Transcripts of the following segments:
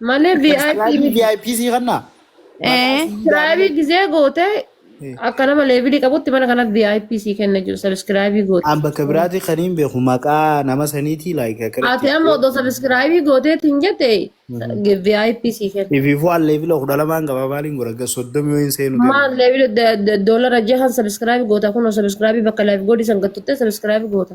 Malee VIP Sabiskiraayibii miti. VIP sii kannaa? Maqaa Ee, sii Sabiskiraayibii daanee. gizee goote Eh. akka nama leevilii qabutti mana kanatti VIP sii kenna jiru sabiskiraayibii goote. An bakka biraati kan hin beeku maqaa nama saniitii like Ati akkanatti. amma odoo sabiskiraayibii gooteetti hin jette VIP sii kenna. Ifiifuu an leevila kudha lamaan qaba maaliin godha ga soddomi yoo hin seenu deemu. Maal leevilii doolara jahan sabiskiraayibii goota kunoo sabiskiraayibii bakka laayif godhi san gattuttee sabiskiraayibii goota.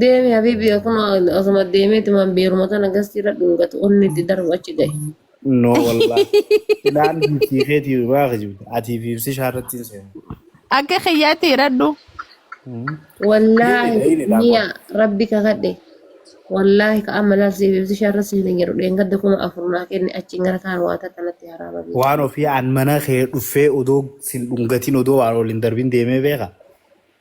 Deemi habibi akkuma osuma deemeeti man beeruma kana gastii irra dhungatu onni itti darbu achi ga'e. No wallah. Silaan biftii keetii biraa kijibda. Atii fi ibsi shaarratti hin seenu. Akka kiyyaatti hidhadhu. Wallaahi Hidhi, hidhi, daabboo. miya rabbi kakadhe. Wallaahi ka amma laal siif ibsi shaarra siif hin jedhu dheengadda kuma afur naa kenne achiin gara kaan waata kanatti haraama beeku. Waan ofii aan mana kee dhuffee odoo sin dhungatiin odoo waan waliin darbin deemee beeka.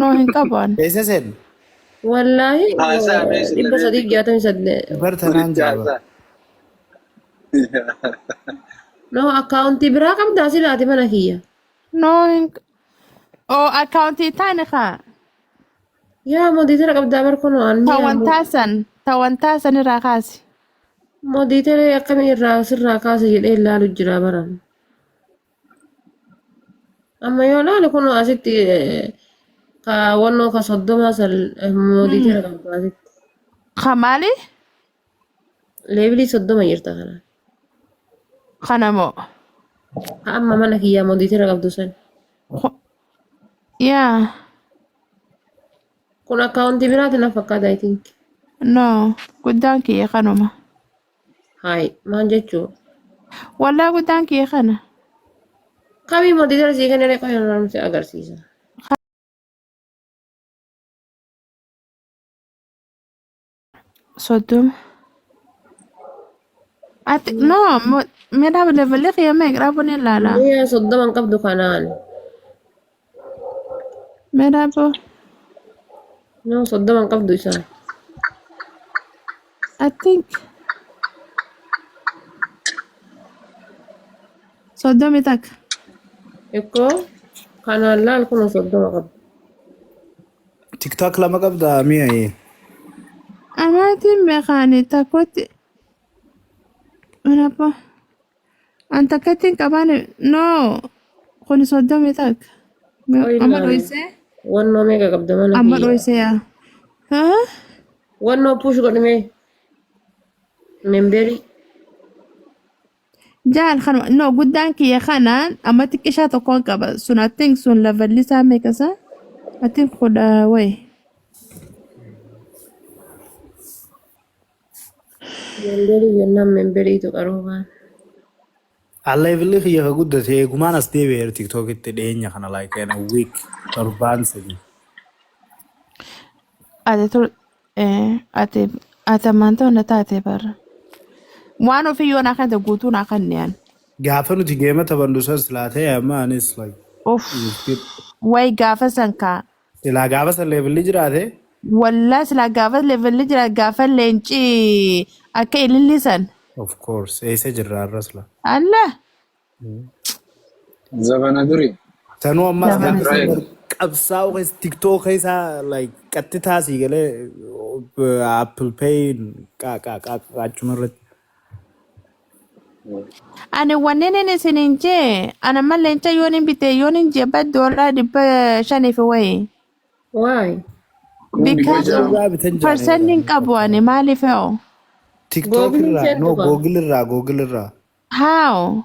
No hin qaban. Eessa seenne? Wallaahi Haasaa mee sila dhibba mee sadii bika. jaatamii saddeet. Bar tanaan Walitti jira bar. haasaa. No akkaawuntii biraa qabdaa silaati mana kiyya. No hin. Oo akkaawuntii taane kaa. Yaa modiitera qabdaa bar kunoo anni ammoo. Tawantaa san. Tawantaa san irraa kaasi. Modiitera akkamii irraa sirraa kaasa jedhee ilaalu jira baran. Amma yoo laale kun asitti kaawwannoo ka soddoma san moodii jira qabdu asitti. Ka maali? Leebilii soddoma jirta kana. Kana moo? Ka amma mana kiyyaa moodii jira qabdu san. Ku- Yaa. Kun akkaawuntii biraati na fakkaata I think. No. Guddaan kiyya kanuma. Haay maal jechuu? Waldaa guddaan kiyya kana. Kamii mootii gara sii kennee qofa yeroo nuti agarsiisa. Soddoma. Ati no mo- meedaa levelli kiyya meeqraa bunni ilaala. Guyyaa soddoma hin qabdu kanaan. Meedaa boo Nama soddoma hin qabdu isaan. I think soddomi takka. Ikkoo kanaan laal kun soddoma qabdu. Tiktok lama qabda mi'a ee. Amaatiin beekaani takkotti. Meedaa boo. An takka ittiin qabaan no kun soddomii takka. Mee Qoy Amma ilaali. dhoysee Wannoo meeqa qabda mana amma kiyya? dhoysee yaa. Haa? Wannoo push godhimee. Memberii. Jaal kan no guddaan kiyya kanaan amma xiqqishaa tokkoon qaba sun I think sun lavallisaa meeqa isaa? I think kudha wayi. Mandiri jennaan membiriitu qaroo baana. Alleevilli kiyya ka guddate eegumaan as deebi'eera tiktokitti dhiyeenya kana like in a week torbaan sadii. Ati tur eh, ati ati ammaan ta'u na taate barra. Waan ofii yoo naa kennite guutuu naa kennian. Gaafa nuti geema taphannu san silaa ta'e amma anis like Uff. miskiin. Way gaafa san kaa Silaa gaafa san leevilli jiraate Wallah silaa gaafa levelli jira gaafa leenci akka ililli san. of course eessa jirra har'a sila. Allah Zabana duri. Sanuu ammas Zabana gaafa san Israel. bar qabsaa'u keessa tiktok keessa like qatti taasii galee apple pay qaaqqaa qaaqqaa achuma irratti. Ani wanneen inni isiniin jee ana mal leenca yoon hin bite yoon hin jee bad doolaa dhibba shanii fi wayi. Why? Because Jaa- of Irraa bitan jaanee percent hin jedhanii qabu ani maaliif hoo? TikTok Google irraa, no, jechuudha. Google irraa, Google irraa. How?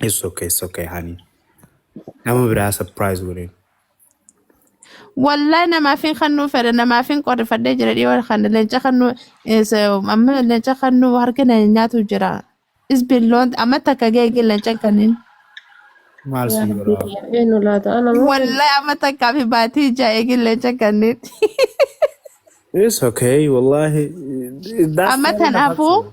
It's okay, it's okay, honey. Nama biraa surprise godhin. Wallahi namaaf hin kannuu fedha namaaf hin qorrifadhee jira dhiyoo kana leenca kannuu is, um, amma leenca kannuu harka na nyaatu jira. It's been long amma takka geegee leenca kanniin. Maal yaa siin rabbii godhaa? kana eenyu laata ana moo Wallahi amma takkaa fi baatii ijaa eegee leenca kanniin. It's okay, wallahi. That's Amma not even a tanaafuu hustle.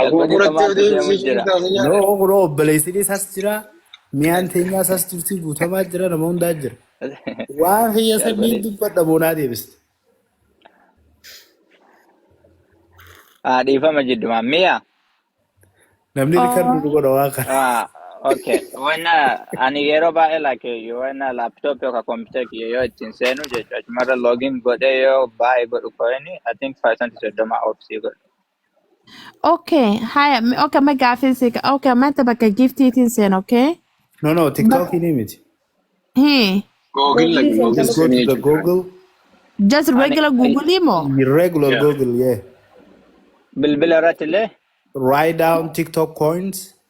Aboo Jalbadii qorattee samaatu odeessi deemu siif jira. taasa nyaata. Noo kunoo obboleessini sas jira. Miyaan teenyaa sas jirti guutamaa jira nama hundaa jira. Waan kiyya san ni Jalbadee dubbadha boonaa deebiste. haa dhiifama jiddumaan mi'a Namni rikardi nu godha waan kana. Okay. When uh, ani yeroo baay'ee like you when uh, laptop yookaan computer kiyya yoo ittiin seenu jechuudha. Achumarra login godhee yoo baay'ee godhu koyini I think percent soddoma obsii godhu. Okay, haya, me- okay, me gafin si, okay, mata baka gift itin sen, okay? No, no, But, TikTok in image. he, Google Googly lagi sen Google Just go to sini the aja kan. Google, just Ani regular i- Google mo. your regular Yeah. Google, yeah. bilbila irratti illee Write down TikTok coins.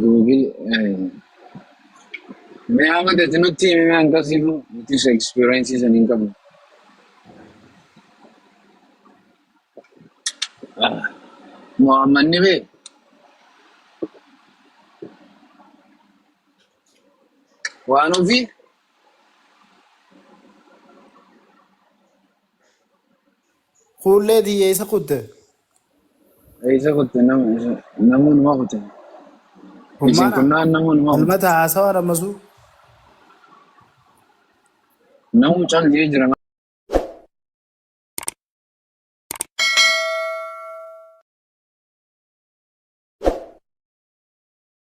Google mee amma dati nutti himi mee hanga sifu nutis experience san hin qabnu. Muhammad ni bee Waan ofii Kuullee tiyya isa kutte. isa kutte nama isa namoonni waa kutte. Isin kun Hummaana. naan namoonni waa kutte. Almata haasawaa dhammasuu. Namuu cal jee jira.